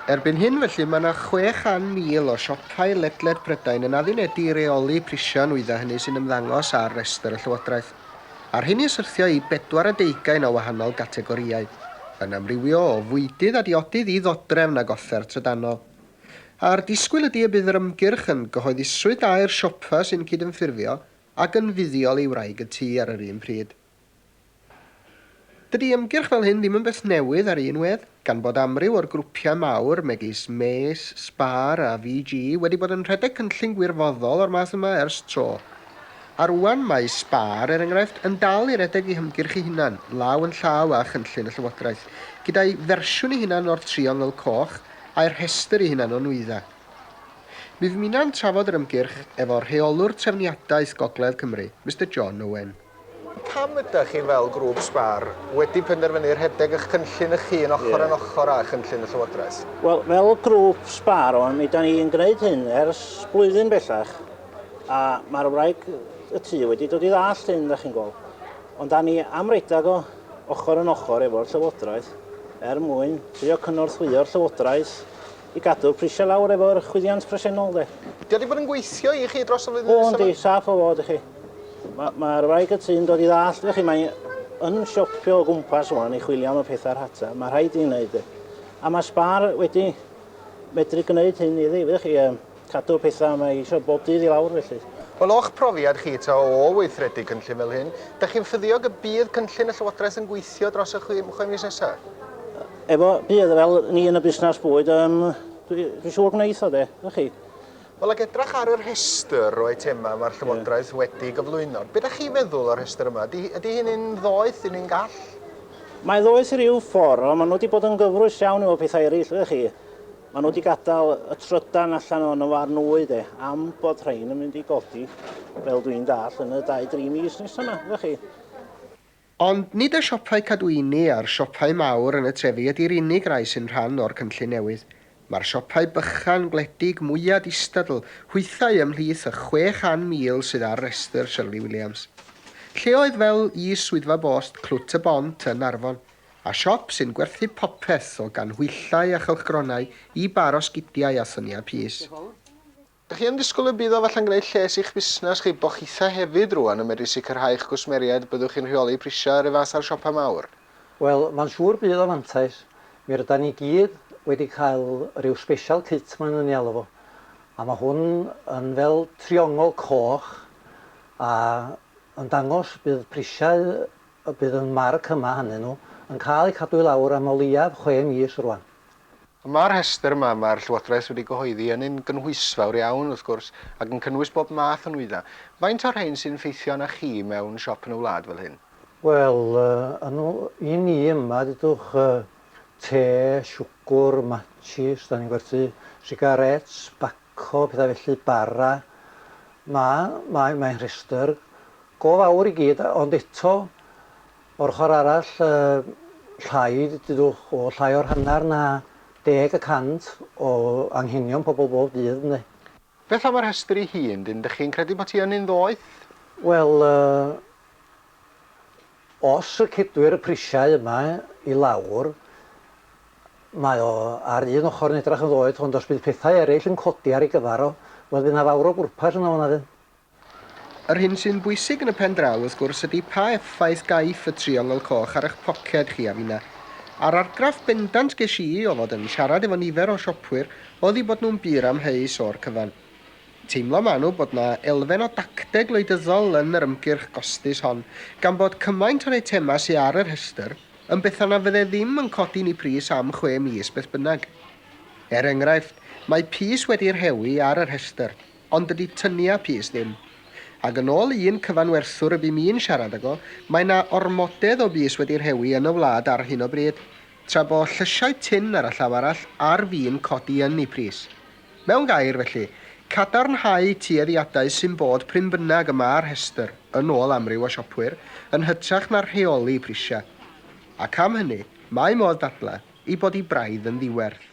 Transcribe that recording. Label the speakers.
Speaker 1: Erbyn hyn felly mae 'na 600,000 o siopau ledled Prydain yn addunedi i reoli prisiau nwyddau hynny sy'n ymddangos ar restr y Llywodraeth. A rhyn ni syrthio i bedwar a deugain o wahanol gategorïau, yn amrywio o fwydydd a diodydd i ddodrefn ag offer trydanol. A'r disgwyl ydi y bydd yr ymgyrch yn gyhoeddusrwydd da i'r siopa sy'n cydymffurfio ac yn fuddiol i wraig y tŷ ar yr un pryd. Dydy ymgyrch fel hyn ddim yn beth newydd ar un wedd, gan bod amryw o'r grwpiau mawr, megis Mace, Spar a VG, wedi bod yn rhedeg cynllun gwirfoddol o'r math yma ers tro. A rŵan mae Spar, er enghraifft, yn dal i redeg ei hymgyrch ei hunan, law yn llaw â chynllun y Llywodraeth, gyda'i fersiwn ei hunan o'r Triongl Coch a'i rhestr ei hunan o nwyddau. Mi ddymuna'n trafod yr ymgyrch efo rheolwr trefniadaeth Gogledd Cymru, Mister John Owen. Pam ydych chi fel grŵp sgwâr wedi penderfynu rhedeg eich cynllun eich hun ochr yn ochr â chynllun y Llywodraeth? Wel, fel grŵp
Speaker 2: sgwâr, mi da ni'n gwneud hyn ers blwyddyn bellach, a mae'r wraig y tŷ wedi dod i ddallt hyn, da chi'n gweld. Ond da ni am redeg o ochr yn ochr efo'r Llywodraeth er mwyn trio cynorthwyo'r Llywodraeth I gadw'r prisiau lawr efo'r chwyddiant presennol de. Dio wedi bod yn gweithio
Speaker 1: i chi dros y flwyddyn nesaf? O yndi, saff o fod i
Speaker 2: chi. Mae'r ma wraig y tŷ'n dod i ddallt fe chi, mae yn siopio o gwmpas wan i chwilio am y pethau rhata, mae rhaid i'n wneud e. A mae Spar wedi medru gwneud hyn iddi, fe chi. Um, cadw pethau, mae eisiau bob dydd i lawr felly. Wel, o'ch profiad
Speaker 1: chi ta o weithredu cynllun fel hyn, dych chi'n ffyddiog y bydd cynllun y Llywodraeth yn gweithio dros y chwe, chwe mis nesaf? Efo,
Speaker 2: bydd, fel ni yn y busnes bwyd, um, dwi'n dwi siŵr gwneud o de, ydych chi? Wel, ac edrach
Speaker 1: ar y rhestr o eitemau mae'r Llywodraeth yeah. wedi gyflwyno. Beth ydych chi'n feddwl o'r rhestr yma? Ydy, ydy hyn yn ddoeth, yn un gall? Mae
Speaker 2: ddoeth i ryw ffordd, ond maen nhw wedi bod yn gyfrwys iawn efo pethau eraill, ydych chi? Maen nhw wedi gadael y trydan allan o'n farn nwy de, am bod rhain yn mynd i godi, fel dwi'n dall, yn y 2-3 mis nesaf yma, ydych chi? Ond
Speaker 1: nid y siopau cadwyni a'r siopau mawr yn y trefi ydy'r unig rai sy'n rhan o'r cynllun newydd. Mae'r siopau bychan, gwledig, mwya' distadl, hwythau ymhlith y 600,000 sydd ar restr Shirley Williams. Lleoedd fel is Swyddfa Bost Clwt y Bont yn Arfon, A siop sy'n gwerthu popeth o ganhwyllau a chylchgronau i bar o sgidiau a thyniau pys. Dych chi yn disgwyl y bydd o falle'n gwneud lles i'ch busnes chi bo chitha hefyd rŵan yn medru sicrhau eich cwsmeriaid byddwch chi'n rheoli prisiau yr un fath â'r siopa mawr? Wel, mae'n siŵr
Speaker 3: bydd o'n fantais. Mi rydan ni gyd wedi cael ryw special kit maen nhw'n ei alw fo, a mae hwn yn fel triongl coch a yn dangos bydd prisiau y bydd y marc yma hannyn nhw yn cael eu cadw i lawr am o leiaf chwe mis rŵan. Yma'r
Speaker 1: rhestr yma mae'r Llywodraeth wedi gyhoeddi yn un gynhwysfawr iawn, wrth gwrs, ac yn cynnwys bob math o nwyddau. Faint o'r rhein sy'n ffeithio arnoch chi mewn siop yn y wlad fel hyn? Wel,
Speaker 3: yn y... i ni yma, dudwch, te, siwgr, matshis, 'dan ni'n gwerthu sigarets, Cof pethau felly bara. Ma, mae, mae'n rhestr go fawr i gyd, ond eto, o'r ochr arall, yy, llai, dudwch, o llai o'r hanner na deg y cant o anghenion pobl bob dydd, ynde. Beth am y rhestr
Speaker 1: ei hun, dyn, dych chi'n credu bod hi ynny'n ddoeth? Wel,
Speaker 3: yy, Os y cedwir y prisiau yma i lawr, mae o ar un ochr yn edrach yn ddoeth, ond os bydd pethau eraill yn codi ar ei gyfar o, wel fydd 'na fawr o bwrpas ynddo fo na fydd? Yr hyn
Speaker 1: sy'n bwysig yn y pen draw, wrth gwrs, ydi pa effaith gaiff y triongl coch ar eich poced chi a finna. A'r argraff bendant gesh i o fod yn siarad efo nifer o siopwyr o'dd i bod nhw'n bur amheus o'r cyfan. Teimlo manwl bod 'na elfen o dacteg wleidyddol yn yr ymgyrch gostus hon, gan bod cymaint o'r eitemau sy' ar y rhestr yn bethau na fydde ddim yn codi'n eu pris am chwe mis beth bynnag. Er enghraifft, mae pys wedi rhewi ar y rhestr, ond dydy tyniau pys ddim. Ac yn ôl un cyfanwerthwr y bum i'n siarad ag o, mae 'na ormodedd o bys wedi rhewi yn y wlad ar hyn o bryd, tra bo llysiau tun ar y llaw arall ar fin codi yn eu pris. Mewn gair, felly, cadarnhau tueddiadau sy'n bod prin bynnag y mae'r rhestr, yn ôl amryw o siopwyr, yn hytrach na rheoli prisiau. Ac am hynny, mae modd dadlau ei bod hi braidd yn ddiwerth.